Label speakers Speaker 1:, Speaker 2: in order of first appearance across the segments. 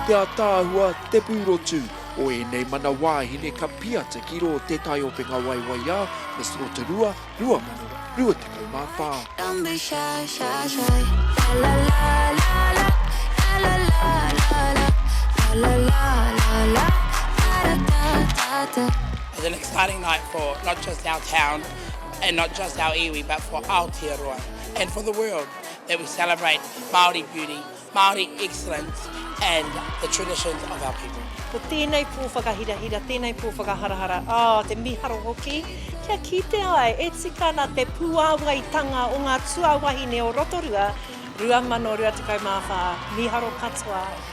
Speaker 1: Te ataahua,
Speaker 2: te pūrotu, o ēnei mana wāhine ka piata ki rō Te Tai o Whengawaiwaiā, Miss Rotorua, 2024.
Speaker 3: and not just our iwi but for Aotearoa and for the world that we celebrate Māori beauty, Māori excellence and the traditions of our people. Ko tēnei pō
Speaker 4: whakahirahira, tēnei pō whakaharahara, oh, te miharo hoki, kia kitea ai e tika ana te puāwaitanga o ngā tuawahine o Rotorua 2024, miharo katoa.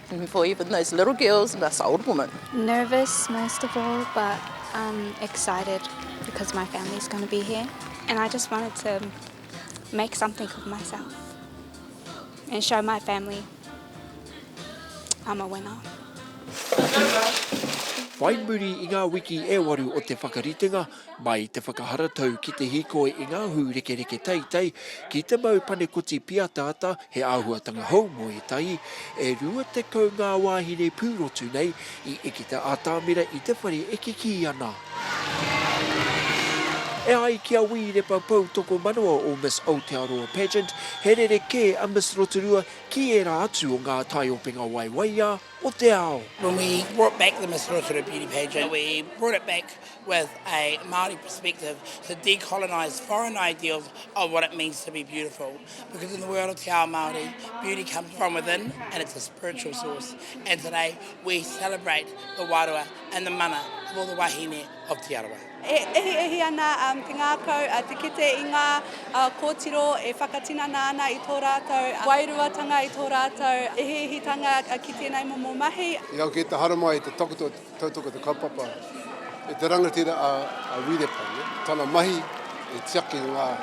Speaker 5: For even those little girls and us old women. Nervous most
Speaker 6: of all but um excited because my family's going to be here and I just wanted to make something of myself and show my family I'm a winner.
Speaker 2: Whai muri i ngā wiki e waru o te whakaritenga, Mai i te whakaharatau ki te hīkoi i ngā hūrekereke teitei, ki te mau panekoti piataata, he āhuatanga hou mō ētahi, e rua tekau ngā wāhine pūrotu nei i eke te atamira i te whare e kikī ana. E ai ki a Wī Repa Poutokomanawa o Miss Aotearoa Pageant, he rerekē a Miss Rotorua ki ērā atu o ngā taiopenga waiwaiā o te ao. When we brought back
Speaker 3: the Miss Rotorua Beauty Pageant, we brought it back with a Māori perspective to decolonise foreign ideals of what it means to be beautiful because in the world of te ao Māori beauty comes from within and it's a spiritual source and today we celebrate the wārua and the mana of all the wahine of Te Arawa. E ehihi ana
Speaker 7: um, te ngākau uh, te kete i ngā uh, kōtiro e whakatinana ana i tō rātou uh, wairuatanga, i tō rātou ehihitanga uh, ki tēnei momo mahi. I au ki te haramai,
Speaker 8: te takoto, Tautoko te kaupapa e te rangatira a Wirepa, tana mahi e tiaki i ngā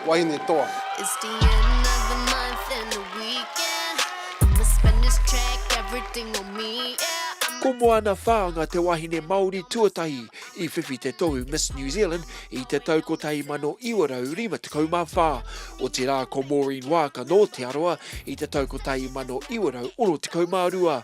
Speaker 8: wahine toa. It's the end
Speaker 1: of the month and the weekend I'ma spend this check, everything on me, yeah I'ma. Ko Moana
Speaker 2: Whaanga te wahine Māori tuatahi i whiwhi te tohu Miss New Zealand i te tau 1954, otirā ko Maureen Waaka nō Te Arawa i te tau 1962.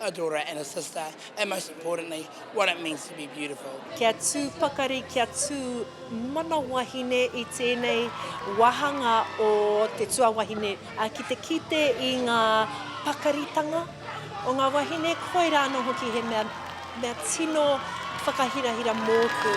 Speaker 3: a daughter and a sister, and most importantly, what it means to be beautiful. Kia tū pakari,
Speaker 4: kia tū mana wahine i tēnei wāhanga o te tuawahine, ā, ki te kite i ngā pakaritanga o ngā wahine, koirā anō hoki he mea, mea tino whakahirahira mōku.